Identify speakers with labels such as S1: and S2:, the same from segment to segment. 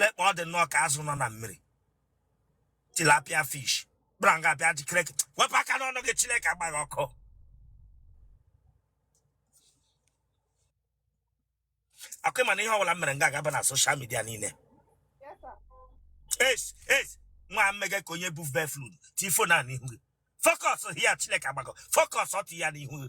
S1: lekpa ọ dị nnọọ ka azụ nọ na mmiri tilapia fish bịa nga bịa jikere gị wepụ aka n'ọnụ gị chineke agba gị ọkụ ọkwa ị ma na ihe ọbụla m mere nga agaba na social media niile yes yes nwa mmega ka onye bụ beflud tie fon a n'ihu gị focus here chineke agbago fọkọs ọtụ ya n'ihu gị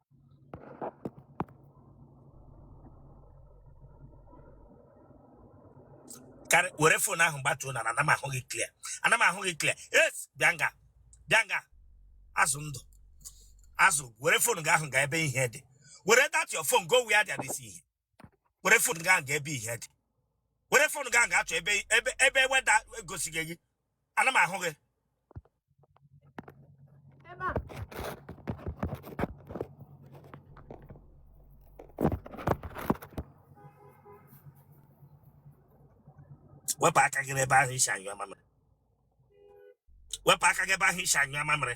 S1: karị- were fon ahụ gbatuo na ana m ahụ gị clear ana m ahụ gị clear yes bịa nga bịa nga azụ ndụ azụ were fon gị ahụ gaa ebe ihe dị were that your phone go where there is ihe were fon gaa nga ebe ihe dị were fon gaa nga achọ ebe ebe ebe weda egosighị gị ana m ahụ gị ebe a wepụ aka gị n'ebe ahụ i si anyụ amamịrị wepụ aka gị ebe ahụ i si anyụ amamịrị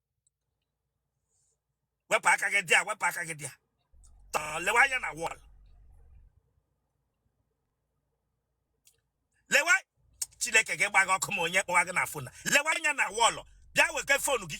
S1: wepụ aka gị there wepụ aka gị there tọọ lewe anya na wall lewe chineke ga-agba gị ọkụ ma onye kpọwa gị na fon lewe anya na wall bịa weke fon gị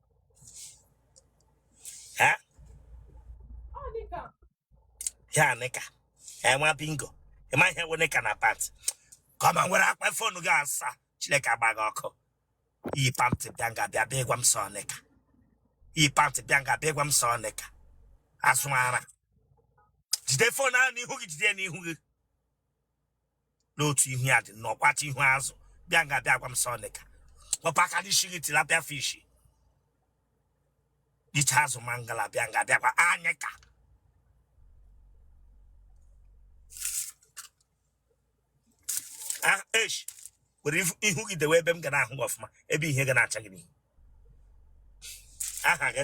S1: Eh? Ihe a nịka. Nwa bingo. Ị ma ihe wụ nịka na pant. Kama nwere akpa fonu gị asa. Chineke agba gị ọkụ. I yi pant bịa nga bịa bịa ịgwa m sị ọ nịka. I yi pant bịa nga bịa ịgwa m sị ọ nịka. Azụ ara. Jide fonu ahụ n'ihu gị jide ya n'ihu gị. n'otu ihu ya dị nnọọ kwata ihu azụ bịa nga bịa gwa m sị ọ nịka wepụ aka n'isi gị tilapia fish iche azụ mangala bịa nga bịa gwa anyị ka ah, esh were ihu gị dewe ebe m ga na-ahụ gị ọfụma ebe ihe ga na-acha gị n'ihu aha gị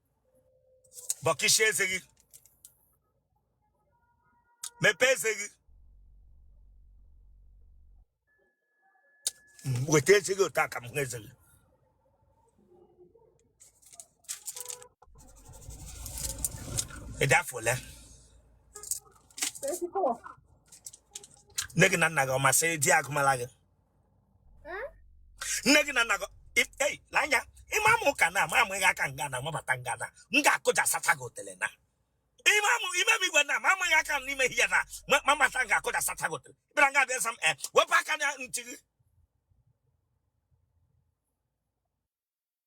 S1: bọkishie eze gị mepee eze gị weta eze gị otu a ka m hụ eze gị ị dị afọ ole nne gị na nna gị ọ masịrị di agụmala gị nne gị na nna gị i- ei lee anya ị ma m ụka na ama amụghị aka nga na amabata nga na m ga-akụja sacha gị otele na ime amụ ime m igwe na ma amụghị aka m n'ime ihe na ma ma mata m ga-akụja sacha gị otele ịbịara nga bịa sam eh, wepụ aka na ntị gị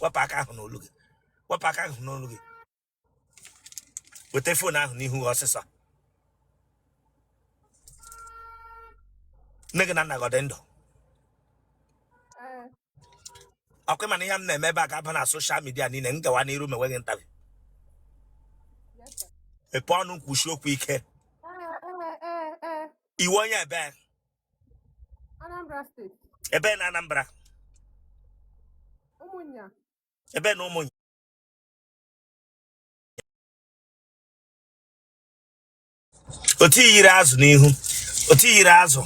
S1: wepụ aka ahụ n'olu gị wepụ aka ahụ n'olu gị weta fon ahụ n'ihu gị ọsịsọ nne gị na nna gị ọ dị ndụ Ee, ọ kwa ị ma na ihe m na-eme ebe a ga-aba na soshal midia niile m gawa n'iru ma enweghị ntabi yes, sir. mepee ọnụ kwusie okwu ike Ee, ee, ee, ee. ị wụ onye ebee Anambra steeti. Ebee na Anambra. Ụmụnya. Ebee na Ụmụnya. Otu i yiri azụ n'ihu. Otu i yiri azụ.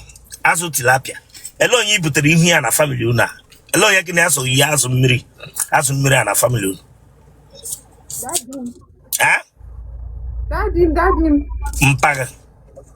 S1: Azụ tilapia. Ele onye i butere ihu ya na famili unu a. Ele onye gị na ya so yi azụ mmiri. Azụ mmiri a na famili unu. Dadi m. Eh? Dadi m, dadi m. Mpaghara.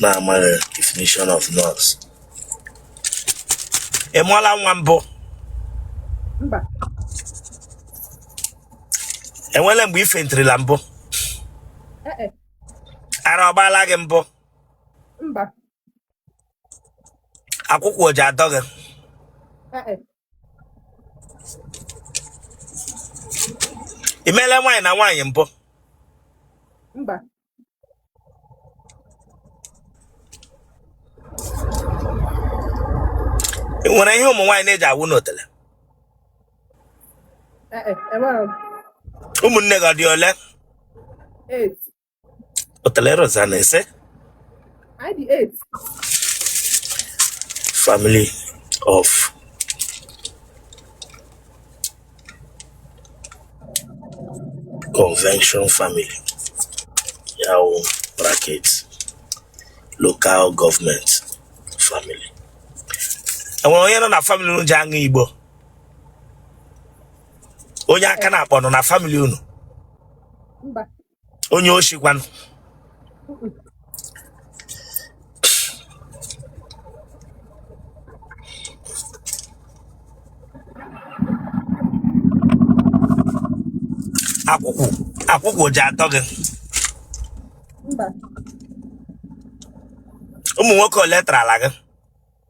S1: na-amaghị definition of nurse ị mụọla nwa mbụ mba enwere mgbe i fentirila mbụ eh, eh, ara ọ gbaala gị mbụ mba akwụkwụ o ji adọ gị eh, eh, i mele nwaanyị na nwaanyị mbụ mba ị nwere ihe ụmụ nwaanyị na-eji awụ n'otele Eh, eh, enwere m ụmụnne gị ọ dị ole eight. otele rosa na-ese Anyị dị eight. family of convention family ya wụ bracket local government family enwere onye nọ na family unu ji aṅụ igbo onye aka na-akpọ nọ na family unu mba onye oshi kwanụ akwụkwụ akwụkwụ ji adọ gị mba ụmụ nwoke ole tarala gị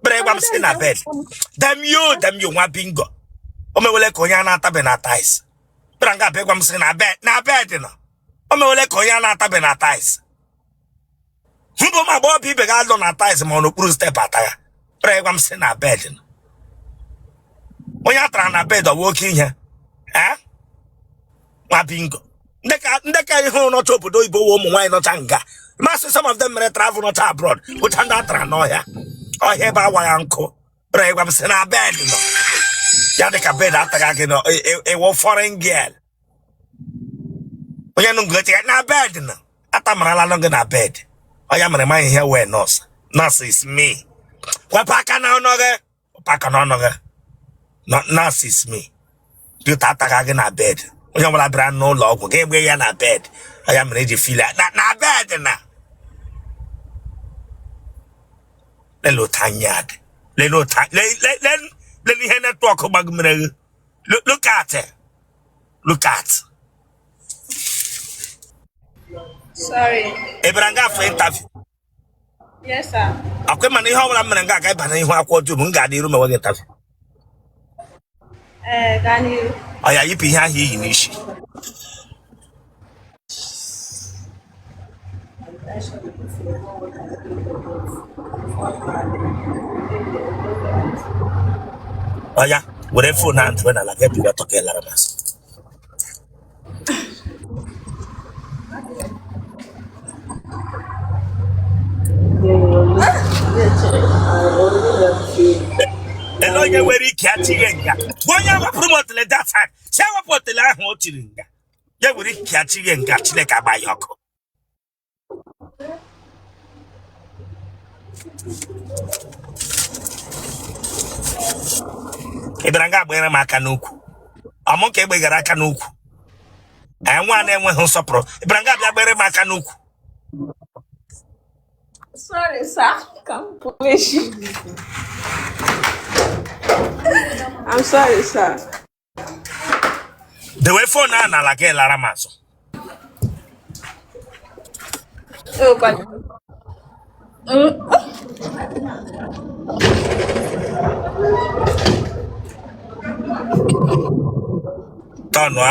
S1: kpere ịgwa m sị na bed demio demio nwa bingo o mewele ka onye a na-atabe na tiles kpere nga abịa ịgwa m sị na bed na bed no o mewele ka onye a na-atabe na tiles mbụ ma gba ọbụ ibe ga-alụ na tiles ma ọ n'okpuru step ata ya kpere ịgwa m sị na bed no onye a tara na bed ọ wụ oke ihe ee mabingo ndị ka ndị ka ihe hụrụ nọcha obodo oyibo wụ ụmụ nwaanyị nọcha nga masị some of them mere travel nọcha abroad bụcha ndị atara n'ọhịa ọhịa ebe awa ya nkụ bụrụ ịgwa m sị na bed nọ ya dị ka bed ataghị gị nọ ị- ị- ịwụ foreign girl onye nụ ngote ya na bed nọ atamarala nọ gị na bed ọ ya mere ma ihe wee nọs nọs is me wepụ aka n'ọnụ gị pụ aka n'ọnụ gị nurses me dịta ataga gị na bed onye ọbụla bịara n'ụlọ ọgwụ gị egbe ya na bed ọ ya mere eji fili ya na na bed na lele otu anya dị lele otu a- le- le- le- lele ihe netwọk gbagomere gị Lo- look at it. look at Sorry. ị bịara nga a for interview Yes, sir. ọkwa ịma na ihe ọbụla m mere m ga-aga ịba n'ihu akwụkwọ dum m ga-adị iru ma nweghị tafi Ee, gaa n'ihu. oya yipụ ihe ahụ i yi n'isi oya were fon ahụ tụwe n'ala ga-ebiga tọka ị lara m azụ ele onye nwere ike achịghị nga onye wepụrụ m otele that time si ewepụ otele ahụ o chiri nga onye nwere ike achịghị nga chineke agba ya ọkụ ị bịara nga agbanyere m aka n'ukwu ọ mụ ka egbegara aka n'ukwu anyị nwa na-enweghị nsọpụrụ ị bịara nga a bịa gbere m aka n'ukwu Sorry, sir. Come push. I'm sorry, sir. dewe fon a n'ala gị lara m azụ tọnụa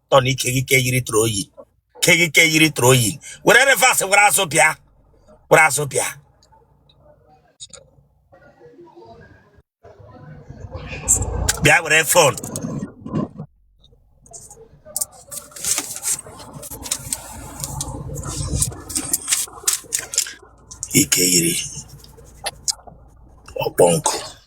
S1: tọ na ike gị ka eyiri tụrụ oyi ke gị ka eyiri tụrụ oyi were reverse were azụ bịa were azụ bịa bịa were fon ike yiri ọkpọ nkụ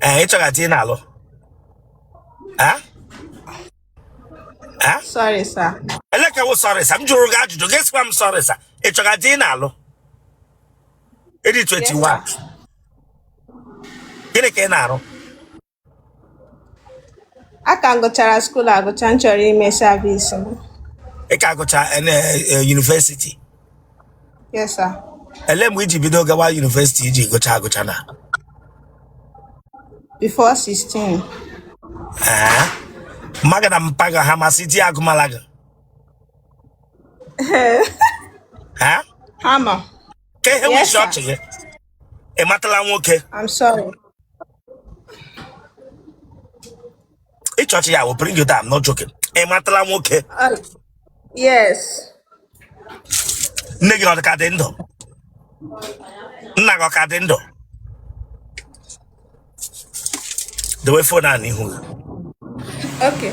S1: ee ị chọga di ị na-alụ Eh? Eh? Sorry, sir. Ele ke wụ sorry, sir. M jụrụ gị ajụjụ gị sịkwa m sorry, sir. Ị chọga di ị na-alụ? Ịdị Yes, 21. sir. Gịnị ka ị na-arụ? A ka m gụchara skuul agụcha m chọrọ ime savisi m. Ị ka gụcha eh, na, eh, yunivesiti. Yes, sir. ele mgbe iji bido gawa yunivesiti iji gụcha agụcha na Before 16. ee mma gị na mpa gị ha ma sị di agụmala gị ee Ha ma. ka ihe nwe Yes, isi sir. ọchị gị ị matala nwoke I'm sorry. ịchọchị ya will bring you down no joking ị matala nwoke Uh, yes. nne gị ọ dị ka dị ndụ nna gị ọ ka dị ndụ dewe fon a n'ihu gị Okay.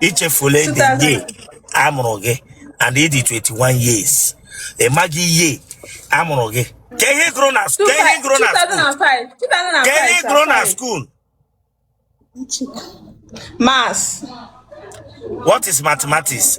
S1: ichefula the 2000 year a mụrụ gị and ịdị 21 years ị maghị year a mụrụ gị ka ihe ị gụrụ na ka ihe ị gụrụ na skuul 2005 2005 ka ihe ị gụrụ na sorry. skuul Maths. what is mathematics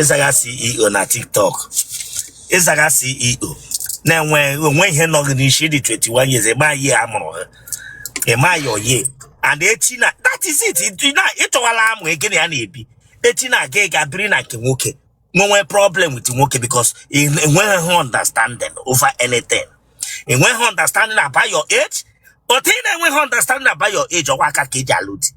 S1: ịzaga ceo na tiktok ịzaga ceo na enweghị ihe nọ gị n'isi dị 21 years ịma year a mụrụ gị ịma your year and echi na that is it ịchọwala amụ gị na ya na-ebi echi na ị ga-aga biri na nke nwoke nwewe problem with nwoke because enweghị understanding over anything enweghị understanding about your age otu ị na-enweghị understanding about your age ọkwa aka ka eji alụ di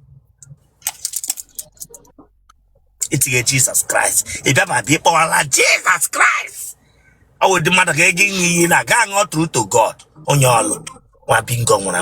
S1: itinye Jesus Christ ị bịa ma bịa ịkpọwala Jesus Christ ọ wụ di mmadụ ga-ege ihe iyi ị na-aga aṅụ true to God onye ọlụ nwa bingo nwụrụ